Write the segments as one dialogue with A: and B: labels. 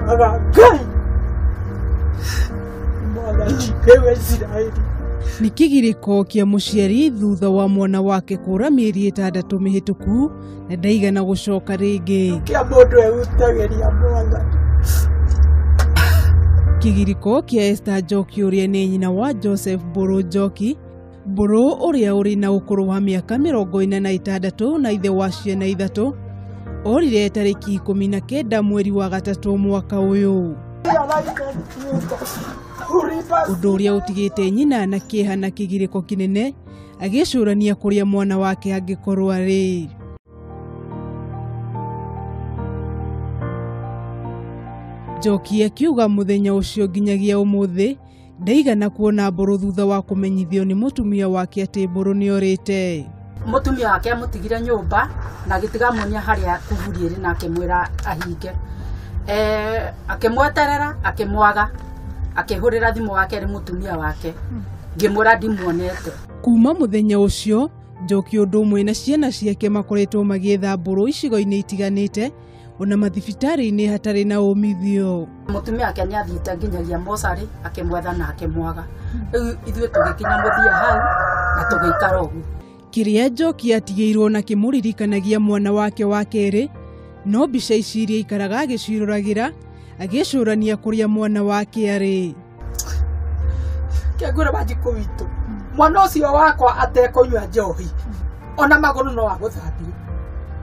A: Mara kai! Mwana nĩwe Isiraeli. Nĩ kĩgirĩko kĩa mũciari thutha wa mwana wake kũra mĩeri ĩtandatũ mĩhĩtũku na ndaigana gũcoka rĩngĩ. Kĩa mũndũ ehutagĩria mwana. Kĩgirĩko kĩa Esther Njoki ũrĩa nĩ nyina wa Joseph Mbũrũ Njoki Mbũrũ ũrĩa ũrĩ na ũkũrũ wa mĩaka mĩrongo ĩna na ĩtandatũ na ithe wa ciana ithatũ orire tarĩki ikũmi na kenda mweri wa gatatũ mwaka ũyũ, ũndũ ũrĩa ũtigĩte nyina na kĩeha na kĩgirĩko kĩnene agĩcũrania kũrĩa mwana wake angĩkorwo arĩ. Njoki akiuga mũthenya ũcio nginyagia ũmũthĩ ndaigana kuona mbũrũ thutha wa kũmenyithio nĩ mũtumia wake atĩ mbũrũ nĩ orĩte mũtumia wake amũtigire nyũmba na agĩtiga muonia harĩa kuburi ĩrĩ na akĩmwĩra ahinge Eh, akĩmweterera akĩmwaga akĩhũrĩra thimũ wake rĩ mũtumia wake ngĩmwĩra ndimuonete kuma mũthenya ũcio njoki ũndũ ũmwe na ciana ciake makoretwo magĩetha mbũrũ icigo-inĩ itiganĩte ona mathibitarĩ-inĩ hatarĩ na umithio. Mũtumia wake nĩ athiĩte nginyagia mocarĩ akĩmwetha na akĩmwaga, rĩu ithuĩ tũgĩkinya mũthia hau na tũgĩikara ũguo. Kĩrĩa Njoki atigĩirwo na kĩmũririkanagia mwana wake wa kerĩ no mbica ici iria aikaraga agĩciĩroragĩra agĩcũrania kũrĩa mwana wake arĩ. kĩngwĩra banji kũwitũ mwana ũcio wakwa atekũnyua njohi ona magũrũ no agũthambire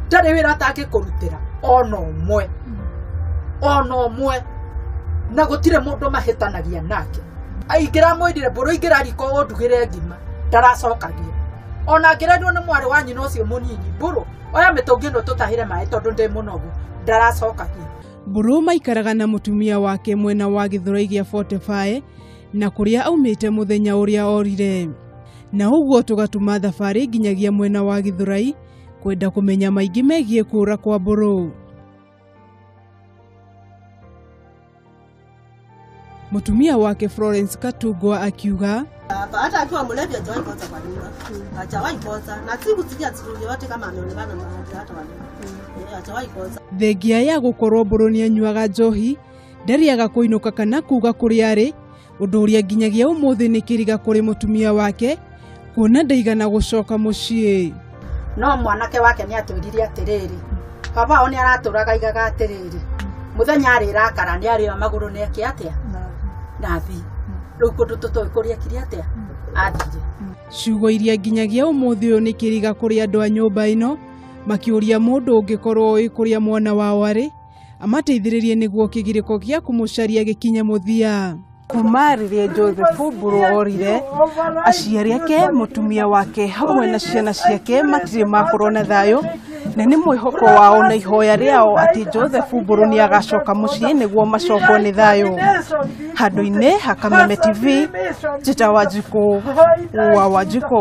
A: ndarĩ wĩra atangĩkũrutĩra ona ũmwe ona ũmwe na gũtirĩ mũndũ mahĩtanagia nake aingĩra mwĩndire mbũrũ ingĩra riko ũndugĩre ngima ndaracokagia ona ngĩrenwo nĩ mwarĩ wa nyina ũcio mũnini mbũrũ oya mĩtũngi ĩno tũtahĩre maĩ tondũ ndĩ mũnogu ndaracokagia Mbũrũ maikaraga na mũtumia wake mwena wa gĩthũrai gĩa Fortify na kũrĩa aumĩte mũthenya ũrĩa orire. Na ũguo tũgatuma thabarĩ nginyagia mwena wa gĩthũrai kwenda kũmenya maingĩ megiĩ kũũra kwa Mbũrũ. Mũtumia wake Florence Katungwa akiuga Hapa hata akiwa mlevi hajawahi kosa kwa nyumba, hajawahi kosa, na siku sija siku yoyote kama ameonekana na watu hata wale Eh, hajawahi kosa. thengia ya gũkorwo mbũrũ nĩ anyuaga njohi ndarĩaga kũinũka kana kuuga kũrĩa arĩ ũndũ ũrĩa nginyagia ũmũthĩ nĩ kĩriga kũrĩ mũtumia wake kuona ndaigana gũcoka mũciĩ no mwanake wake nĩ atwĩrire atĩrĩrĩ baba wao nĩ aratũraga igaga atĩrĩrĩ mũthenya arĩrakara nĩ arĩra magũrũ na eke atĩa na thi rĩu kũndũ tũtoĩ kũrĩa kiri atĩa athire ciugo iria nginyagia ũmũthĩ ũyũ nĩ kĩriga kũrĩ andũ a nyũmba ĩno makĩũria mũndũ ũngĩkorwo ũĩ kũrĩa mwana wao arĩ amateithĩrĩrie nĩguo kĩgirĩko gĩa kũmũcaria gĩkinye mũthia kuma rĩrĩa josefu burorire aciari ake mũtumia wake hamwe na ciana ciake matirĩ makorwo na thayũ na nĩ mwĩhoko wao na ihoya rĩao atĩ josefu mbũrũ nĩ agacoka mũciĩ nĩguo macokwo nĩ thayũ handũ-inĩ hakameme tv njĩta wanjikũ wa wanjikũ